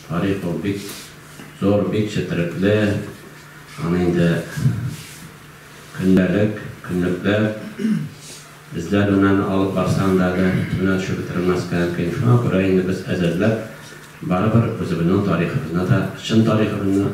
Тарих ул бик зур, бик четерекле. Аны инде көндәлек, көнлекләп эзләр белән алып барсаң да әле төбенә төшеп бетерелмәскә мөмкин. Шуңа күрә инде без әзерләп, барыбер үзебезнең тарихыбызны да, чын тарихыбызны,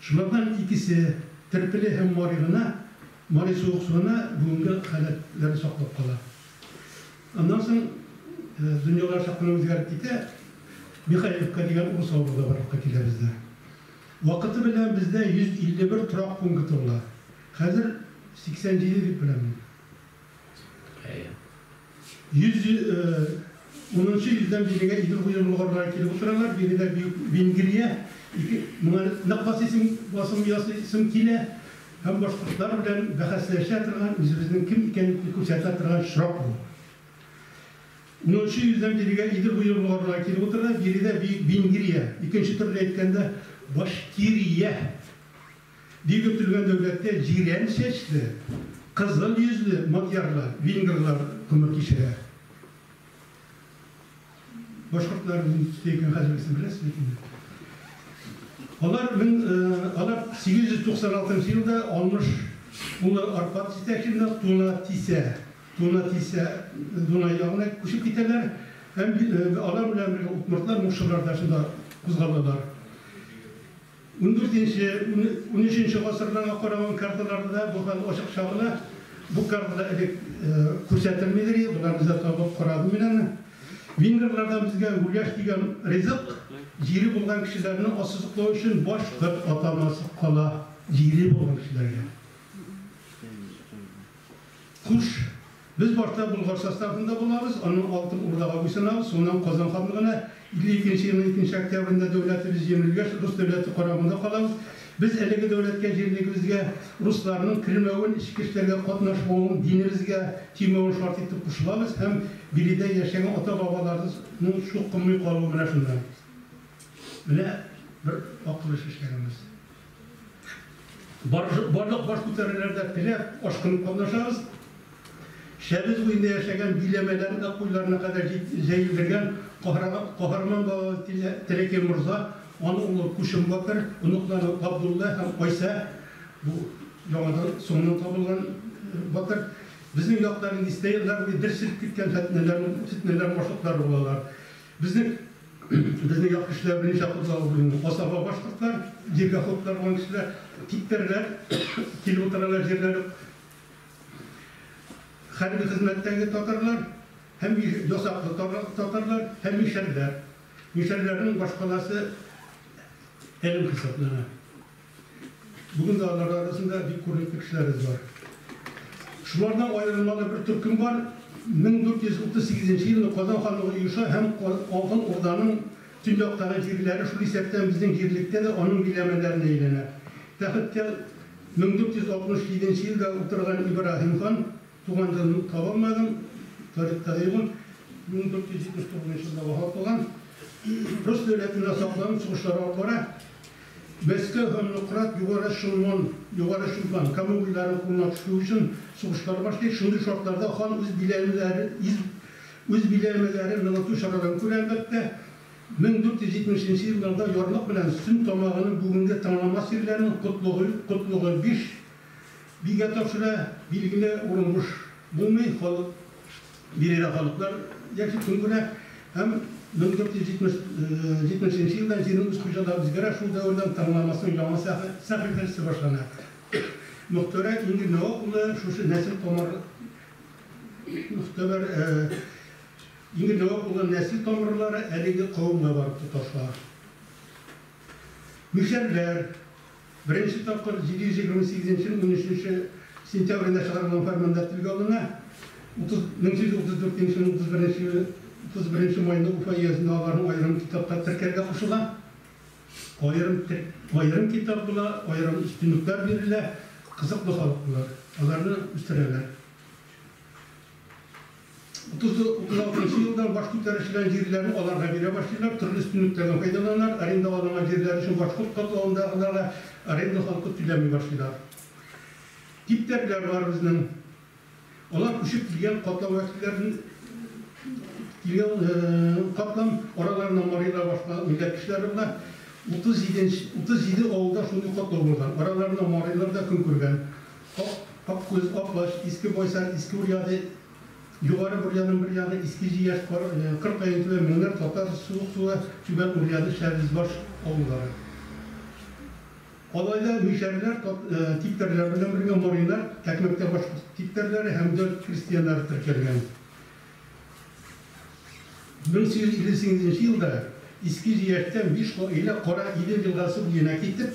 Шулардан икесе, Терпеле һәм Мари гына, Мари суыксу гына бүгенге халәтләрен саклап кала. Аннан соң дөньялар чак кына үзгәреп китә. Михайловка дигән урыс авылы да барлыкка килә бездә. Вакыты белән бездә 151 торак пункты була. Хәзер 87 дип беләм мин. Әйе. Йөз унынчы йөздән бирегә Идел буе болгарлары килеп утыралар. Биредә Бөек Венгрия, ике, моңа нык басыйсың, басым ясыйсың килә һәм башкортлар белән бәхәсләшә торган, үзебезнең кем икәнлекне күрсәтә торган очрак бу. Унынчы йөздән бирегә Идел буе болгарлары килеп утыралар. Биредә Бөек Венгрия, икенче төрле әйткәндә, Башкирия. Дип йөртелгән дәүләттә җирән чәчле, кызыл йөзле мадьярлар, венгрлар гомер кичерә. Башкортлар нинди төстә икән хәзергесен беләсез бит инде. Алар 1896 елда Алмыш улы Аркад җитәкчелегендә Тунатисә, Тунатисә, Дунай ягына күчеп китәләр һәм алар белән бергә удмуртлар, мукшылар да шунда кузгалалар. Ундүртенче, унөченче гасырларга караган карталарда да бу хәл ачык чагыла. Бу картада элек күрсәтелмидер иде, боларны да табып карадым мин аны. Венгрлардан безгә гуляш дигән ризык, җире булган кешеләрне ассызыклау өчен башкорт атамасы кала, җире булган кешеләргә. Хуш. Без башта Болгар составында булабыз, аннан Алтын Урдага буйсынабыз, соңыннан Казан ханлыгына, 52 нче елның 2 нче октябрендә дәүләтебез җимерелгәч, рус дәүләте карамагында калабыз. Без әлеге дәүләткә җирлегебезгә русларның кермәвен, эчке эшләргә катнашмавын, динебезгә тимәвен шарт итеп кушылабыз һәм биредә яшәгән ата-бабаларыбызның чукынмый калуы менә шуннан. Менә бер акыл эше эшләгәнбез. Барлык баш күтәрүләрдә теләп, ашкынып катнашабыз. Шәбез буенда яшәгән биләмәләрен дә куйларына кадәр җәелдергән каһарман балалы Теләкәй морза, аның улы Күчем батыр, оныклары Габдулла һәм Айсә, бу яңадан, соңыннан табылган батыр, безнең якларның дистә еллар буе бер сирпеп киткән фетнәләрнең башлыклары булалар. Безнең безнең як кешеләр берничә акыллы булган асаба башкортлар, җиргә охотлар булган кешеләр, типтәрләр килеп утыралар җирләре хәрби хезмәттәге татарлар һәм ясаклы татарлар һәм мишәрләр. Мишәрләрнең башкаласы Әлем хисаплана. Бүген дә алар арасында бик күренекле кешеләребез бар. Шулардан аерылмалы бер төркем бар, 1438 нче елны Казан ханлыгы оеша һәм Алтын Урданың төньяктагы җирләре, шул исәптән безнең җирлектә дә аның биләмәләренә әйләнә. Тәхеткә 1467 нче елда утырган Ибраһим хан, туган елын таба алмадым, тарихта да юк ул, 1479 нчы елда вафат булган, рус дәүләтендә сакланып сугышлар алып бара. Мәскәү һәм Нократ Югары Шимон, Югары Шимфан, Кама буйларын кулына төшерү өчен сугышлар башлый. Шундый шартларда хан үз биләмәләре из үз биләмәләрен ныгыту чараларын күрә, әлбәттә. 1470 нче елларда ярлык белән Сөн тамагының бүгенге Таңнамас ирләренең Котлыгы Котлыгы биш бигә тапшыра, билгеле, урын буш булмый, халык, Биредә халыклар яши көн күрә һәм 1470 нче елда җирнең үз хуҗалары үзгәрә, шул дәвердән таңнамасның яңа сәхифәсе башлана. Мөхтәрә Ингель Нәвап улы шушы нәсел тамыр Мөхтәбәр Ингель Нәвап улы нәсел тамырлары әлеге кавемгә барып тоташа. Мишәрләр. Беренче тапкыр 728 13 сентябрендә чыгарылган фәрманда телгә алына. 334 елның 31 маенда Уфа өязендә аларны аерым китапта теркәргә кушыла. Аерым аерым китап була, аерым өстенлекләр бирелә, кызыклы халык болар, аларны үстерәләр. Тузы утына утыручы елдан баш күтәрүчеләр җирләрен аларга бирә башлыйлар, төрле өстенлекләрдән файдаланалар, арендаланган җирләр өчен башкорт катлавындагыларга аренда халкы түләми башлыйлар. Типтәрләр бар безнең. Алар күчеп килгән катлау вәкилләрен килгән катлам араларыннан марилар башка милләт кешеләре була. 37 нче 37 авылда шундый катлау булган. Араларыннан марилар да көн күргән. Ак, ак күз, ак баш, иске Байсар, иске Урьяды, Югары Бурьяның бер ягы иске Җияш, Кар, Кыр Каентүбә, Меңнәр, Татар Суык суы, Түбән Урьяды, Шәвезбаш авыллары. Алайда мишәрләр тат, типтәрләр белән бергә марилар, Тәкмәктә башкорт типтәрләре һәм дөлт крестьяннары теркәлгән. 1858 нче елда Иске Җияштән биш гаилә Кара Идел елгасы буена китеп,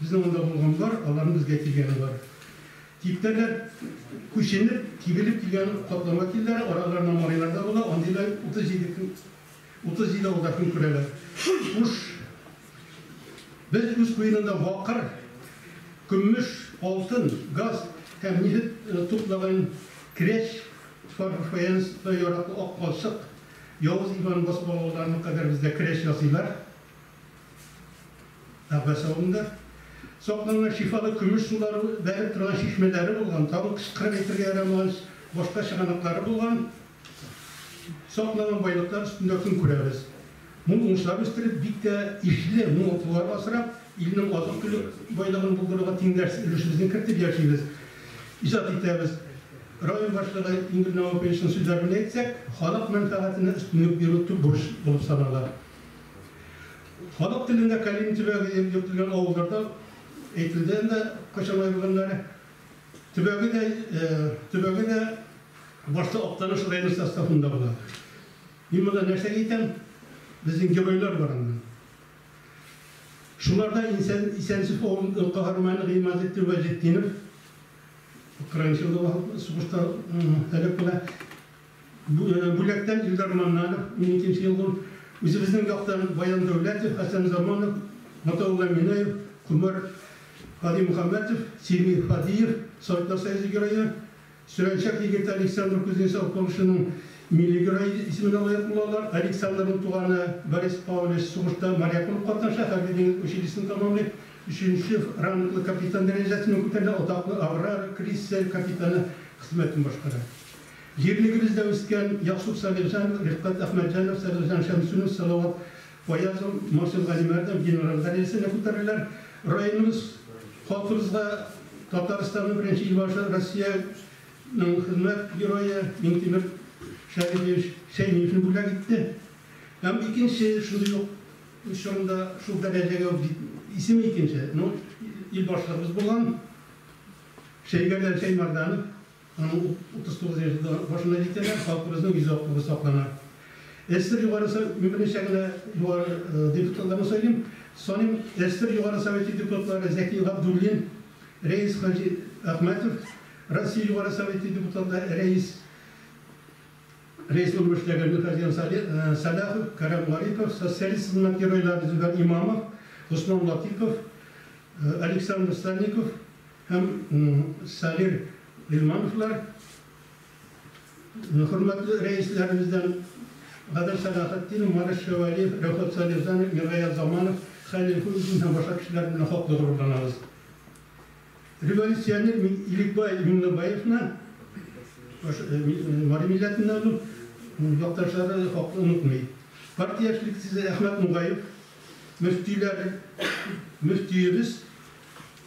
Безнең анда булган бар, аларның безгә килгәне бар. Типтәрләр күченеп, тибелеп килгән катлама телләр, араларында марилар да була, андыйлар 37 көн, 37 авылда көн күрәләр. Хуш, без үз куенында бакыр, көммеш, алтын, газ һәм нефть туплаган Керәч, Фар-Фаянс, яраклы Ак балчык, Явыз Иван басып алуларына кадәр бездә керәч ясыйлар. Әббәс авылында сакланган шифалы көмеш сулары бәреп торган чишмәләре булган, тагын кычкырып әйтергә ярамагач, башка чыганаклары булган сакланган байлыклар өстендә көн күрәбез. Мул уңышлар үстереп, бик тә ишле мал-туар асрап, илнең азык-төлек байлыгын булдыруга тиңдәшсез өлешебезне кертеп яшибез, иҗат итәбез. Район башлыгы Ингел Наваповичның сүзләре белән әйтсәк, халык мәнфәгатенә өстенлек бирү төп бурыч булып санала. Халык телендә Калин төбәге дип йөртелгән авылларда әйтелде инде Кочанай бүгеннәре. Төбәге дә төбәге дә башта Актаныш районы составында була. Мин монда нәрсәгә әйтәм? Безнең геройлар бар анда. Шуларда Исән Исәнсүф авылы каһарманы Гыймазетдин Вәҗетдинов украинчылыгы сугышта һәлак була. Бүләктән Илдар Маннанов, мин икенче ел бу, үзебезнең яктан Баян Дәүләтов, Хәсән Заманов, Гатаулла Минаев, Комар Гадимөхәммәтов, Сими Фадиев, Саидлар союзы герое, Сөрәнчәк егете Александр Кузнецов Польшаның милли герое исеменә лаек булалар. Александрның туганы Борис Паулич сугышта моряк булып катнаша, хәрби-диңгез училищесын тәмамлый, өченче ранглы капитан дәрәҗәсенә күтәрелә, атаклы Аврора крейсер капитаны хезмәтен башкара. Җирлегебездә үскән Яксуф Салихҗан, Рифкать Әхмәтҗанов, Салихҗан Шәмсунов, Салават Фаязов, Морсил Галимәрдинов генераль дәрәҗәсенә күтәреләләр. Районыбыз, халкыбызга Татарстанның беренче Илбашы, Россиянең Хезмәт Герое Миңтимер Шәрипович Шәймиевне бүләк итте. Һәм икенче шундый ук чорында шул дәрәҗәгә үк җит, исеме икенче, но Илбашлыгыбыз булган Шәйгәрдән Шәймәрданов, Аның 39 яше дә башына җитәләр, халкыбызның йөзе актыгы саклана. ССР Югары Советы гомеренчә генә югары депутатларны сайлыйм, саныйм, ССР Югары Советы депутатлары Зәки Габдуллин, Рәис хаҗи Әхмәтов, Россия Югары Советы депутаты Рәис Рәис урынб эшләгән Мирхазян Сәлахов, Кәрәм Гарипов, социалист хезмәт геройлары Зөфәр Имамов, Госман Латыйпов, Александр Сальников, Һәм Салир Гыйльмановлар хөрмәтле рәисләребездән Гадел Сәлахетдинов, Марис Шәвәлиев, Рәфәт Салихҗанов, Миргаять Заманов, Хәлил Хуҗин һәм башка кешеләр белән хаклы горурланабыз. Революционер Иликбай Миңлебаевны, Мари милләтеннән ул, якташлары хаклы онытмый. Партия яшьлек тизы Әхмәт Нугаев, мөфтиләр, мөфтиебез,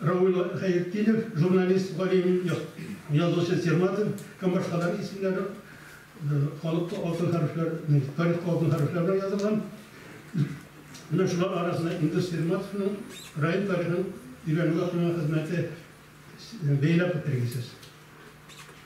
Равил Гайетдинов, журналист, галим, язучы Серматов һәм башкалар исемнәре халыкта алтын хәрефләр, тарихта алтын хәрефләр белән язылган. Менә шулар арасында Илдус Серматовның район тарихын өйрәнүгә куйган хезмәте бәйләп үтергесез.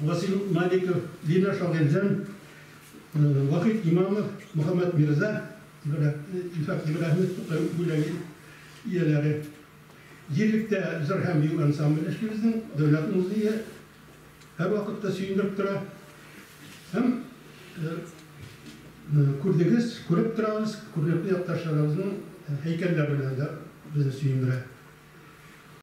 Васил Маликов, Лина Шагыйрьҗан, Вахит Имамов, Мөхәммәт Мирза, Илфак Ибраһимов Тукай бүләге ияләре, Җирлектә җыр һәм бию ансамбле эшли безнең Дәүләт музее һәрвакытта сөендереп тора һәм күрдегез, күреп торабыз, күренекле якташларыбызның һәйкәлләре белән дә безне сөендерә.